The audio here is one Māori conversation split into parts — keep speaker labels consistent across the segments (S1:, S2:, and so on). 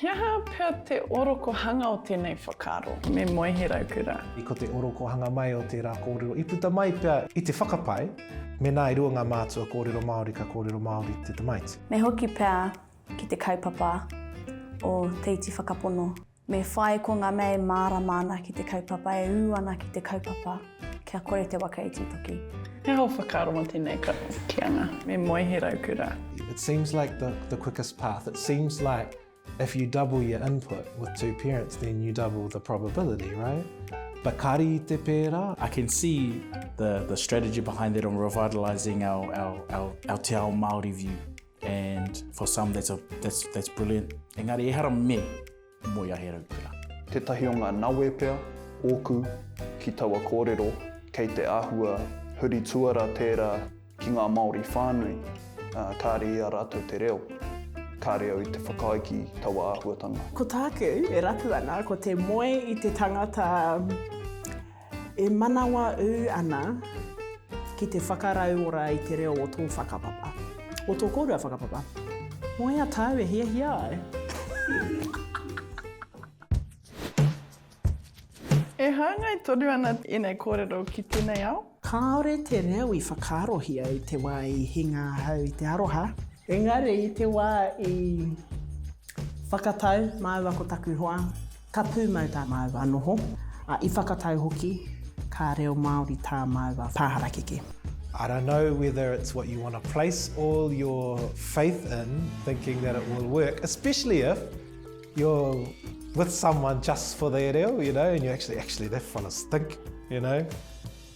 S1: He aha pea te orokohanga o tēnei whakaaro, me Moe He Raukura? I ko te orokohanga mai o tērā kōrero i puta mai pea i te whakapae, mēnā e rua ngā mātua kōrero Māori ka kōrero Māori te tamaiti. Me hoki pea ki te kaupapa o Te Iti Whakapono. Me whai ko nga mea e mārama ana ki te kaupapa, e ū ana ki te kaupapa, kia kore te waka e titoki. He hao whakaaro mo tenei karakianga. Me moe he raukura. It seems like the the quickest path. It seems like if you double your input with two parents then you double the probability, right? But kari i te pērā. I can see the the strategy behind it on revitalising our our our our te ao Māori view. And for some that's, a, that's, that's brilliant. Engari ehara me moe a He Raukura. Tētahi o ngā nawe pea, ōku, ki taua kōrero, kei te āhua huri tuara tērā ki ngā Māori whānui, ā, kāre i a rātou te reo. Kāre au i te whakaae ki taua āhuatanga. Ko tāku e rapu ana ko te moe i te tangata E manawa ū ana ki te whakarauora i te reo o tō whakapapa, o tō kōrua whakapapa. Moe a tāu e hiahia ai. E hāngai tonu ana ēnei kōrero ki tēnei ao? Kāore te reo i whakaarohia i te wā i hinga ahau i te aroha. Engari i te wā i whakatau māua ko taku hoa, Ka pūmau tā māua noho, ā, i whakatau hoki ka reo Māori tā māua pā harakeke. I don't know whether it's what you want to place all your faith in, thinking that it will work, especially if you're with someone just for their reo, you know, and you're actually, actually, that fella's thick, you know.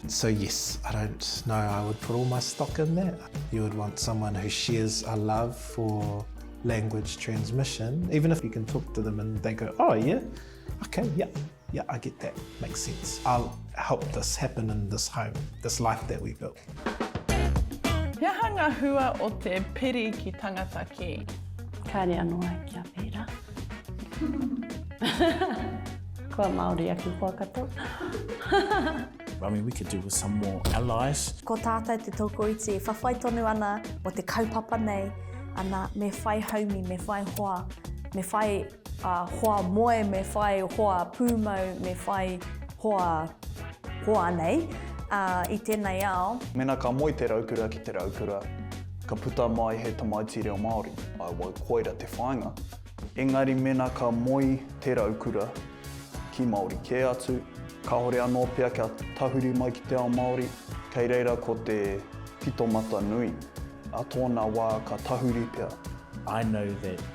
S1: So yes, I don't know I would put all my stock in that. You would want someone who shares a love for language transmission, even if you can talk to them and they go, oh yeah, okay, yeah, yeah, I get that, makes sense. I'll help this happen in this home, this life that we built. He aha ngā hua o te piri ki tangata kē? Kāre anō ai kia pērā. Kua Māori ake koa katoa. I mean, we could do with some more allies. Ko tātou te tokoiti e whawhai tonu ana o te kaupapa nei, ana, me whai haumi, me whai hoa, me whai uh, hoa moe, me whai hoa pūmau, me whai hoa Hoanei, ā, i tēnei ao. Mēnā ka moe te raukura ki te raukura, ka puta mai he tamaiti reo Māori, I wau koira te whāinga. Engari mēnā ka moe te raukura ki Māori kē atu, kāore anō pea kia tahuri mai ki te ao Māori, kei reira ko te pito mata nui, ā tōna wā ka tahuri pea. I know that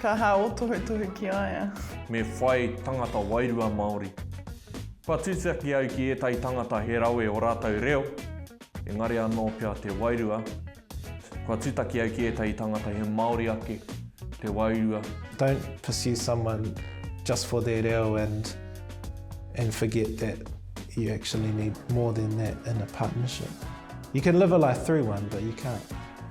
S1: Ka ha o tohutohu ki a ia. Me whai tangata wairua Māori. Kua tūtaki au ki ētahi tangata he rawe o rātou reo, engari anō pea te wairua. Kua tūtaki au ki ētahi tangata he Māori ake te wairua. Don't pursue someone just for their reo and and forget that you actually need more than that in a partnership. You can live a life through one but you can't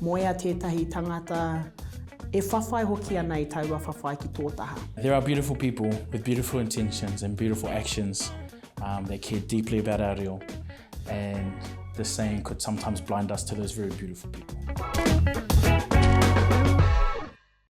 S1: Moea tētahi tangata e whawhai hoki ana i taua whawhai ki tō taha. There are beautiful people with beautiful intentions and beautiful actions um, that care deeply about our reo and the saying could sometimes blind us to those very beautiful people.